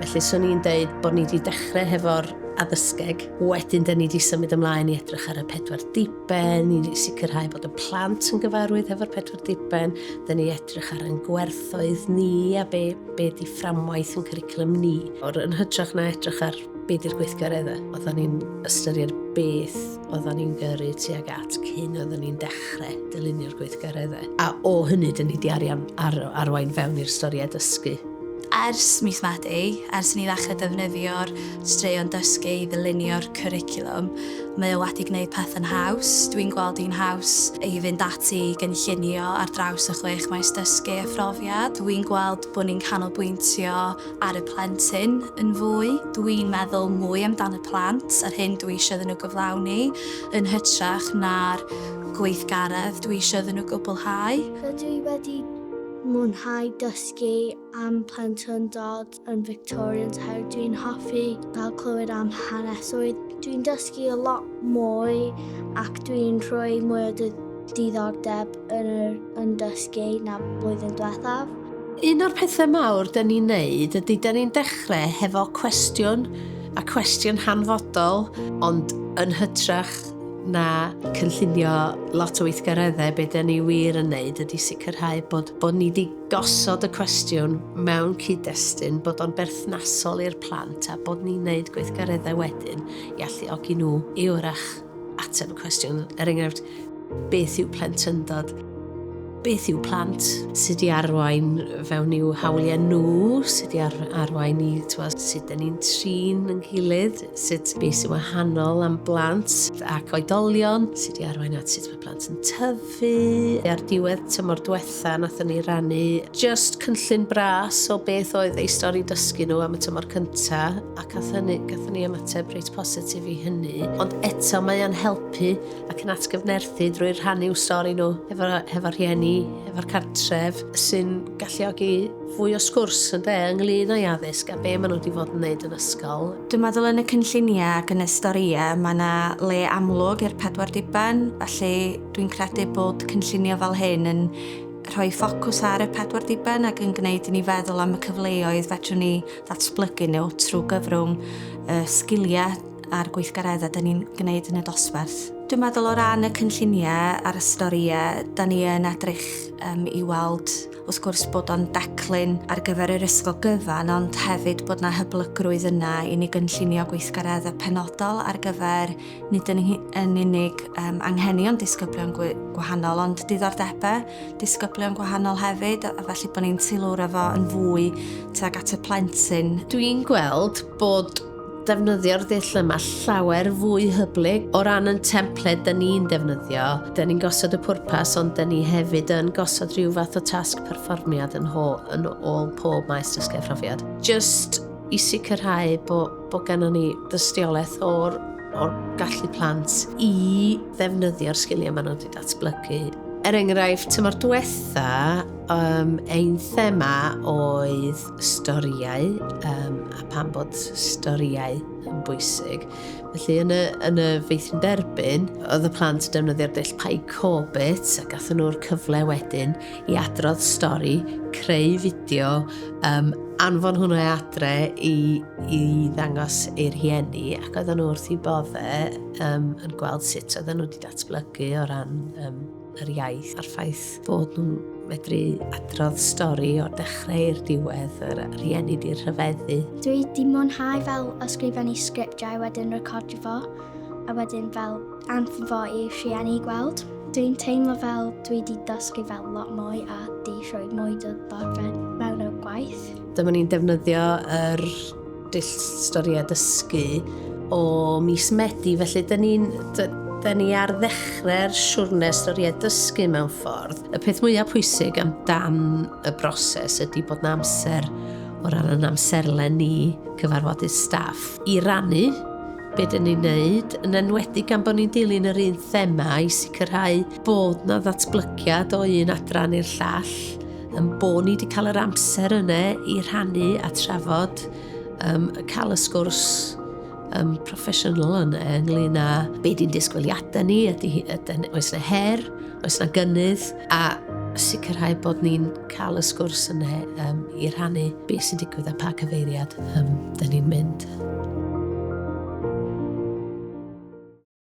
Felly, swn i'n deud bod ni wedi dechrau hefo'r addysgeg. Wedyn, dyn ni wedi symud ymlaen i edrych ar y pedwar diben, i sicrhau bod y plant yn gyfarwydd hefo'r pedwar diben. Dyn ni edrych ar ein gwerthoedd ni a be, be di fframwaith yn cwricwlwm ni. O'r yn hytrach na edrych ar be di'r gweithgareddau, oedden ni'n ystyried beth oedden ni'n gyrru tuag at cyn oedden ni'n dechrau dylunio'r gweithgareddau. A o hynny, dyn ni wedi arian ar, arwain fewn i'r storiau dysgu. Ers mis Medi, ers i ni ddechrau defnyddio'r straeon dysgu i ddylunio'r cwricwlwm, mae o wedi gwneud pethau'n haws. Dwi'n gweld hi'n haws i fynd ati i gynllunio ar draws y chwech maes dysgu a phrofiad. Dwi'n gweld bod ni'n canolbwyntio ar y plentyn yn fwy. Dwi'n meddwl mwy amdan y plant a'r hyn dwi eisiau iddyn nhw gyflawni, yn hytrach na'r gweithgaredd dwi eisiau iddyn nhw gwblhau. Rydw i wedi mwynhau dysgu. dysgu am plentyndod yn Victorian so dwi'n hoffi cael clywed am hanesoedd. Dwi'n dysgu a lot mwy ac dwi'n rhoi mwy o diddordeb yn, yr, yn dysgu na blwyddyn diwethaf. Un o'r pethau mawr dyn ni'n neud ydy dyn ni'n dechrau hefo cwestiwn a cwestiwn hanfodol ond yn hytrach na cynllunio lot o weithgareddau be dyn ni wir yn neud ydy sicrhau bod, bod ni wedi gosod y cwestiwn mewn cyd-destun bod o'n berthnasol i'r plant a bod ni'n neud gweithgareddau wedyn i alluogi nhw i wrach ateb y cwestiwn. Er enghraifft, beth yw plentyndod? Beth yw plant? Sut i arwain fewn i'w hawliau nhw? Sut i ar arwain i twa, sut dyn ni'n trin yng nghylydd? Sut beth sy'n wahanol am blant ac oedolion? Sut i arwain at sut plant yn tyfu. Ar diwedd tymor diwetha, nathon ni rannu just cynllun bras o beth oedd ei stori dysgu nhw am y tymor cynta, a cath hynny, gathon ni ymateb reit positif i hynny. Ond eto mae o'n helpu ac yn atgyfnerthu drwy rhannu stori nhw efo, efo rhieni, efo'r cartref, sy'n galluogi Fwy o sgwrs, ynde, ynglyn â'i addysg a be maen nhw wedi fod yn wneud yn ysgol. Dwi'n meddwl yn y cynlluniau ac yn y storïau mae yna le amlwg i'r pedwar diben, felly dwi'n credu bod cynllunio fel hyn yn rhoi ffocws ar y pedwar diben ac yn gwneud i ni feddwl am y cyfleoedd fedrwn ni ddatblygu nhw trwy gyfrwng y sgiliau a'r gweithgareddau da ni'n gwneud yn y dosbarth. Dwi'n meddwl o ran y cynlluniau a'r storïau, da ni yn edrych um, i weld wrth gwrs bod o'n declyn ar gyfer yr ysgol gyfan, ond hefyd bod yna hyblygrwydd yna i ni gynllunio gweithgareddau penodol ar gyfer nid yn, yn unig um, anghenion disgyblion gwahanol, ond diddordebau disgyblion gwahanol hefyd, a felly bod ni'n teilwra fo yn fwy tuag at y plentyn. Dwi'n gweld bod defnyddio'r dull yma llawer fwy hyblyg. O ran yn templed dyn ni'n defnyddio, dyn ni'n gosod y pwrpas ond dyn ni hefyd yn gosod rhyw fath o tasg perfformiad yn, ho, yn ôl pob maes dysgu phrofiad. Just i sicrhau bod bo gennym ni dystiolaeth o'r, or gallu plant i ddefnyddio'r sgiliau maen nhw wedi datblygu Er enghraifft, tymor diwetha, um, ein thema oedd storïau um, a pam bod storïau yn bwysig. Felly yn y, yn y feithrin derbyn, oedd y plant yn defnyddio'r dull Pai Corbett a gathen nhw'r cyfle wedyn i adrodd stori, creu fideo, um, anfon hwnna e adre i, i ddangos i'r hieni ac oedden nhw wrth i bodde um, yn gweld sut oedden nhw wedi datblygu o ran um, yr iaith a'r ffaith bod nhw'n medru adrodd stori o'r dechrau i'r diwedd, yr rhieni di'r rhyfeddu. Dwi di mwynhau fel ysgrifennu sgriptiau wedyn recordio fo, a wedyn fel anfon fo i rhieni gweld. Dwi'n teimlo fel dwi di dysgu fel lot mwy a di rhoi mwy o ddorfed mewn o'r gwaith. Dyma ni'n defnyddio yr dull stori a dysgu o mis Medi, felly dyn ni'n da ni ar ddechrau'r siwrne stori a dysgu mewn ffordd. Y peth mwyaf pwysig am dan y broses ydy bod na amser o ran yn amserle ni cyfarfodydd staff i rannu be dyn ni'n neud, yn enwedig gan bod ni'n dilyn yr un thema i sicrhau bod na ddatblygiad o un adran i'r llall, Yn bod ni wedi cael yr amser yna i rhannu a trafod, um, cael y sgwrs um, proffesiynol yna ynglyn â be di'n disgwyliadau ni, ydy, ydy, oes yna her, oes yna gynnydd, a sicrhau bod ni'n cael y sgwrs yna um, i rhannu beth sy'n digwydd a pa cyfeiriad um, dyn ni'n mynd.